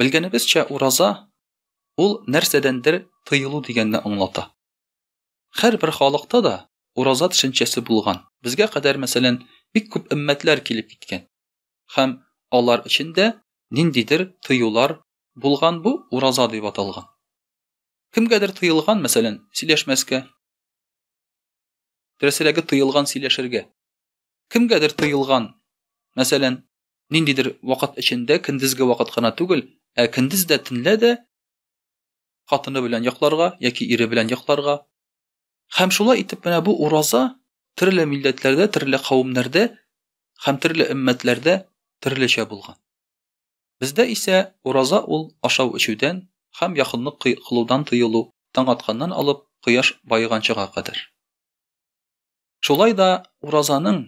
Белгәнебезчә, ураза ул нәрсәдәндер тыелу дигәнне аңлата. Һәрбер халыкта да ураза төшенчәсе булган. Безгә кадәр, мәсәлән, бик күп өммәтләр килеп киткән. Һәм алар эчендә ниндидер тыюлар булган бу ураза дип аталган. Кемгәдер тыелган, мәсәлән, сөйләшмәскә. Дөресрәге тыелган сөйләшергә. Кемгәдер тыелган, мәсәлән, ниндидер вакыт эчендә көндезге вакыт кына түгел, ә көндез дә төнлә дә хатыны белән йокларга яки ире белән йокларга. Һәм шулай итеп менә бу ураза төрле милләтләрдә, төрле кавемнәрдә һәм төрле өммәтләрдә төрлечә булган. Бездә исә ураза ул ашау эчүдән һәм якынлык кылудан тыелу таң атканнан алып кояш баеганчыга кадәр. Шулай да уразаның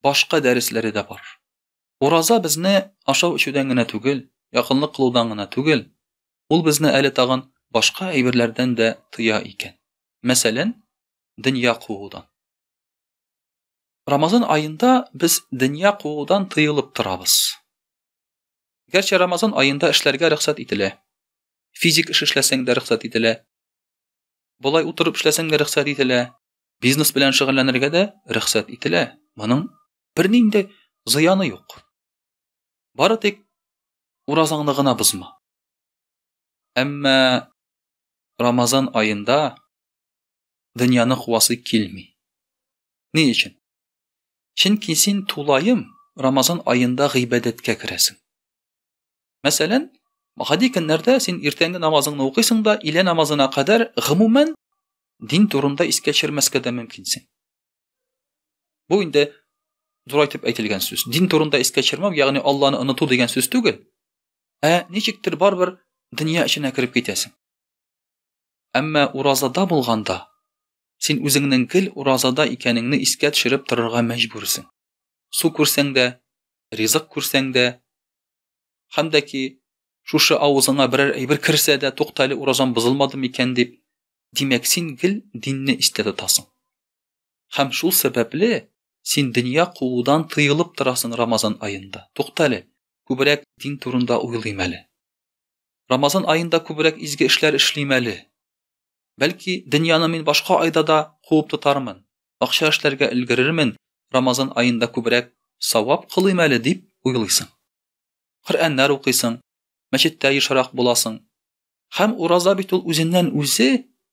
башка дәресләре дә бар. Ураза безне ашау эчүдән генә түгел, якынлык кылудан гына түгел, ул безне әле тагын башка әйберләрдән дә тыя икән. Мәсәлән, дөнья куудан. Рамазан аенда без дөнья куудан тыелып торабыз. Гәрчә Рамазан аенда эшләргә рөхсәт ителә. Физик эш эшләсәң дә рөхсәт ителә. Болай утырып эшләсәң дә рөхсәт ителә. бизнес белән шөгыльләнергә дә рөхсәт ителә. Моның бернинди зыяны юк. Бары тик уразаңны гына бозма. Әмма Рамазан аенда дөньяны куасы килми. Ни өчен? Чөнки син тулаем Рамазан аенда гыйбадәткә керәсең. Мәсәлән, гади көннәрдә син иртәнге намазыңны укыйсың да, илә намазына кадәр гомумән дин турында искә төшермәскә дә мөмкинсең. Бу инде дурайтып әйтелгән сүз. Дин турында искә төшермәү, ягъни Алланы оныту дигән сүз түгел. Ә ничектер барбер дөнья эченә кереп китәсең. Әмма уразада булганда син үзеңнең гел уразада икәнеңне искә төшереп торырга мәҗбүрсең. Су күрсәң дә, ризык күрсәң дә, Хәм дә ки, шушы авызыңа берәр әйбер керсә дә, тукта әле, уразам бозылмады микән дип, димәк, син гел динне истә тотасың. Хәм шул сәбәпле син дөнья куудан тыелып торасың Рамазан аенда. Тукта әле, күбрәк дин турында уйлыйм әле. Рамазан аенда күбрәк изге эшләр эшлим әле. Бәлки, дөньяны мин башка айда да куып тотармын, акча эшләргә өлгерермен, Рамазан аенда күбрәк савап кылыйм әле дип уйлыйсың. Коръәннәр укыйсың, мәчеттә ешрак буласың. Хәм ураза бит ул үзеннән үзе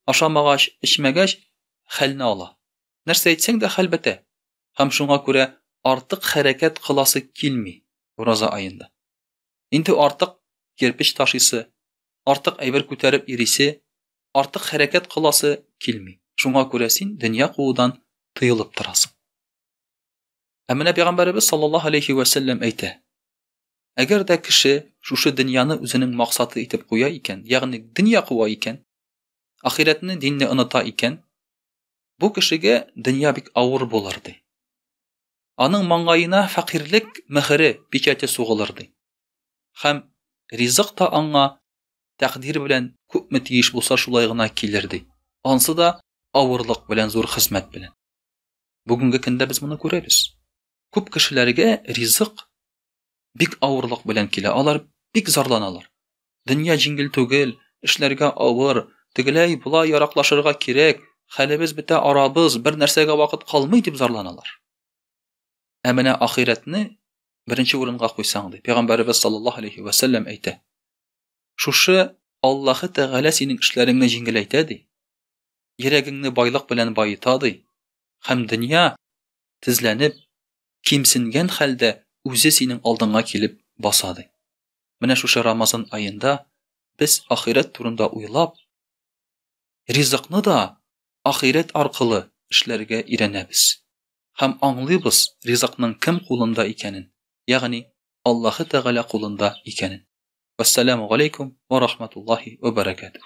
ашамагач, эчмәгәч хәлне ала. Нәрсә әйтсәң дә хәл бетә. Хәм шуңа күрә артык хәрәкәт кыласы килми ураза аенда. Инде артык кирпеч ташыйсы, артык әйбер күтәреп йөрисе, артык хәрәкәт кыласы килми. Шуңа күрә син дөнья куудан тыелып торасың. Ә менә пәйгамбәребез саллаллаһу алейхи ва сәлләм әйтә: Әгәр дә кеше шушы дөньяны үзенең максаты итеп куя икән, ягъни дөнья куа икән, ахирәтне, динне оныта икән, бу кешегә дөнья бик авыр булыр ди. аның маңгаена фәкыйрьлек мөһере, печате сугылыр, ди. Һәм ризык та аңа тәкъдир белән күпме тиеш булса шулай гына килер, ди. Ансы да авырлык белән, зур хезмәт белән. Бүгенге көндә без моны күрәбез. Күп кешеләргә ризык Бик авырлык белән килә. Алар бик зарланалар. Дөнья җиңел түгел, эшләргә авыр, тегеләй була яраклашырга кирәк, хәлебез бетә арабыз, бер нәрсәгә вакыт калмый дип зарланалар. Ә менә ахирәтне беренче урынга куйсаң ди. Пәйгамбәрбез саллаллаһу алейхи ва саллям әйтә. Шушы Аллаһы Тәгалә синең эшләреңне җиңеләйтә ди. Йөрәгеңне байлык белән баета ди. Хәм дөнья тезләнеп, кимсенгән хәлдә үзе синең алдыңа килеп баса ди. Менә шушы Рамазан аенда без ахирәт турында уйлап, ризыкны да ахирәт аркылы эшләргә өйрәнәбез һәм аңлыйбыз ризыкның кем кулында икәнен, ягъни Аллаһы Тәгалә кулында икәнен. Вассаламу галейкум ва рахматуллахи ва баракатуһ.